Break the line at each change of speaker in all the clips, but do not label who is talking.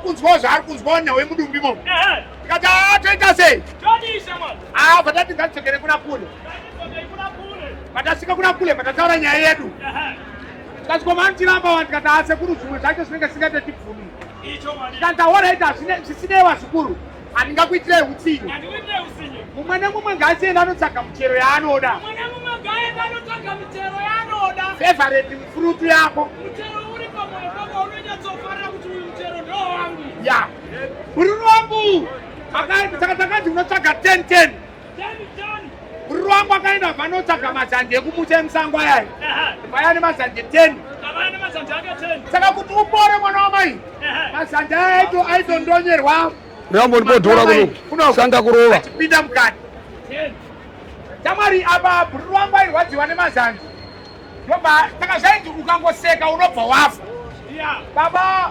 kunzwawo zvaari kunzwawo nhau yemudumbi mo tikati haa toita sei haa vatati ngatidzokere kuna kule patasvika kuna kule patataura nyaya yedu tikati komantiramba wani tikati haa sekuru zvimwe zvacho zvinenge zvisingaite tibvumi tikati ahoraita zvisinei vazukuru handingakuitirai utsinye mumwe nemumwe ngaasienda anotsvaga muchero yaanoda fevareti mfurutu yako ya bururu wangu saka takanzi unotsvaga 1010 Ruwangu akaenda vanotsvaga mazanje ekumutsa emusango ayani vaya ane mazanje 10 saka kuti upore mwana wamai mazanje aya aito aitondonyerwa rambo
ndipodhora kuno sanga kurova achipinda mukati
tamwari apa bhuri ruwangu airwadziwa nemazanje ndobva saka zvainzi ukangoseka unobva wafa baba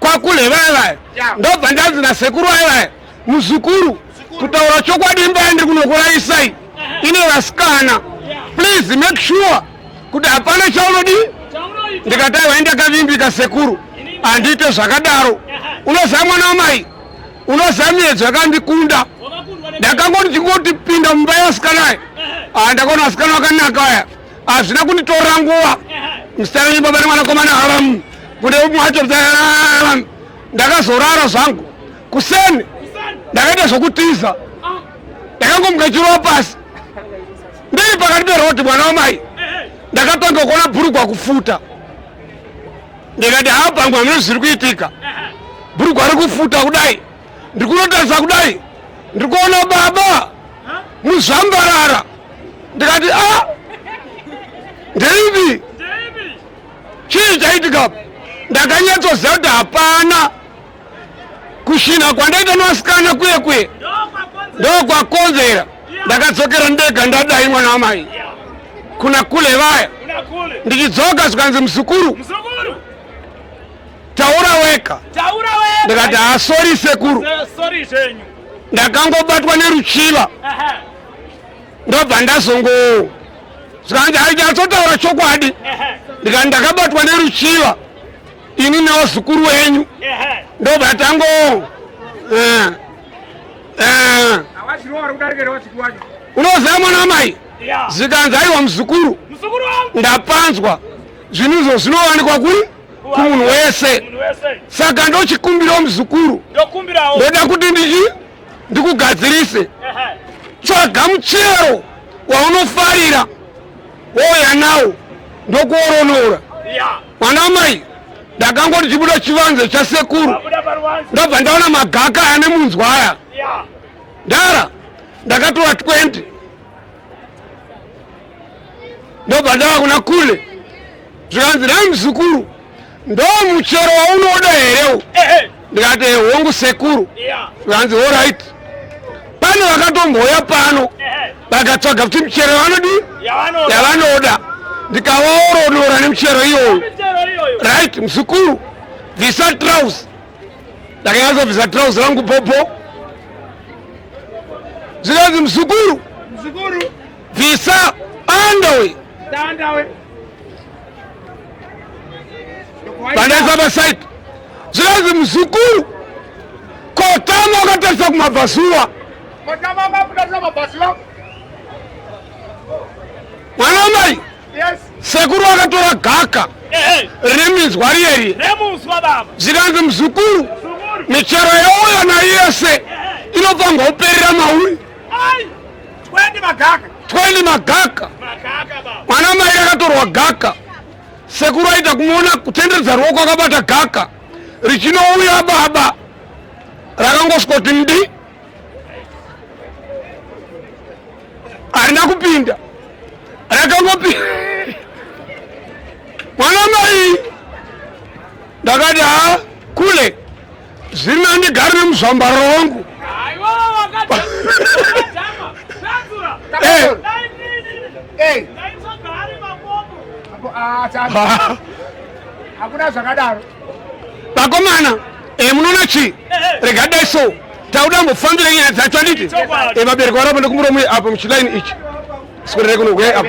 kwakule vaya vaya ndobva ndanzi nasekuru vaya vaya muzukuru kutaura chokwadi imba yandiri kunokurayisai ine vasikana please make sure kuti hapana chaunodi ndikatai waindakavimbika sekuru handiite zvakadaro unoziva mwana wamai unoziva miedzo yakandikunda ndakangoti chingotipinda mumba yevasikana aya ah, ndakaona vasikana vakanaka aya hazvina kunditorera nguva msitana nebaba nemwanakomana haramu kune umwe wacho ndakazorara zvangu kuseni ndakaita zvokutiza ndakangomuka chirova pasi ndiri pakati peroti mwana wamai ndakatanga kuona bhurugwa kufuta ndikati haa pangwa mune zviri kuitika bhurugwa rikufuta kudai ndiri kunotarisa kudai ndiri kuona baba muzvambarara ndikati a ah, ndeipi chii chaitika ndakanyatsoziva kuti hapana kushina kwandaita nevasikana kuye kuye ndokwakonzera ndakadzokera ndega ndadai mwana wamai kuna kule vaya ndichidzoka zvikanzi muzukuru taura weka ndikati hasori sekuru ndakangobatwa neruchiva ndobva ndazongo zvikanzi haichatsotaura chokwadi ndikati ndakabatwa neruchiva ini neozukuru wenyu ndobva tango eh, eh. unoziva mwana wamai zvikanzi aiwa muzukuru ndapanzwa zvinhu izvo zvinowanikwa kuri kumunhu wese saka ndochikumbirawo muzukuru ndoda kuti ndii ndikugadzirise tsvaga muchero waunofarira wouya nawo ndokuoronora mwana mai ndakangoti chibuda chivanze chasekuru ndobva ndaona magaka ane munzwa aya ndara ndakatora 20 ndobva ndava kuna kule zvikanzi nhai muzukuru ndo muchero waunoda hereu ndikati hongu sekuru zvikanzi orit pane vakatomboya pano vakatsvaga kuti michero yavanodii yavanoda ndikavaoronora nemichero iyoyo right muzukuru bvisa trouse ndakanyazobvisa trouse rangu popo zvikanzi muzukuru Bvisa bandawe. Bandawe. Bandaisa pasaid. Zvikanzi muzukuru kotama wakatarisa kumabvazuva. Kotama wakatarisa kumabvazuva. Mwana mai. Yes. Sekuru akatora gaka. Riminzwa riyeri. Remuswa baba. Zvikanzi muzukuru. Michero yauya nayo yese. Inopangwa uperera mauri. Ai. 20 magaka 20 magaka mwana mai akatorwa gaka sekuru aita kumuona kutenderedza ruoko akabata gaka richinouya baba rakangosvikoti mdi harina kupinda rakangopinda mwana mai ndakati ha kule Zviri nani ndigare nemuzvambariro wangu. Eh. Eh. Hakuna
zvakadaro. Vakomana,
eh munoona chi? Rega dai so. Tauda mbofambira nyaya dzacho anditi? Eh vabereki varapa ndokumuromo apo muchilaini ichi. Sikorere kuno gwe apo.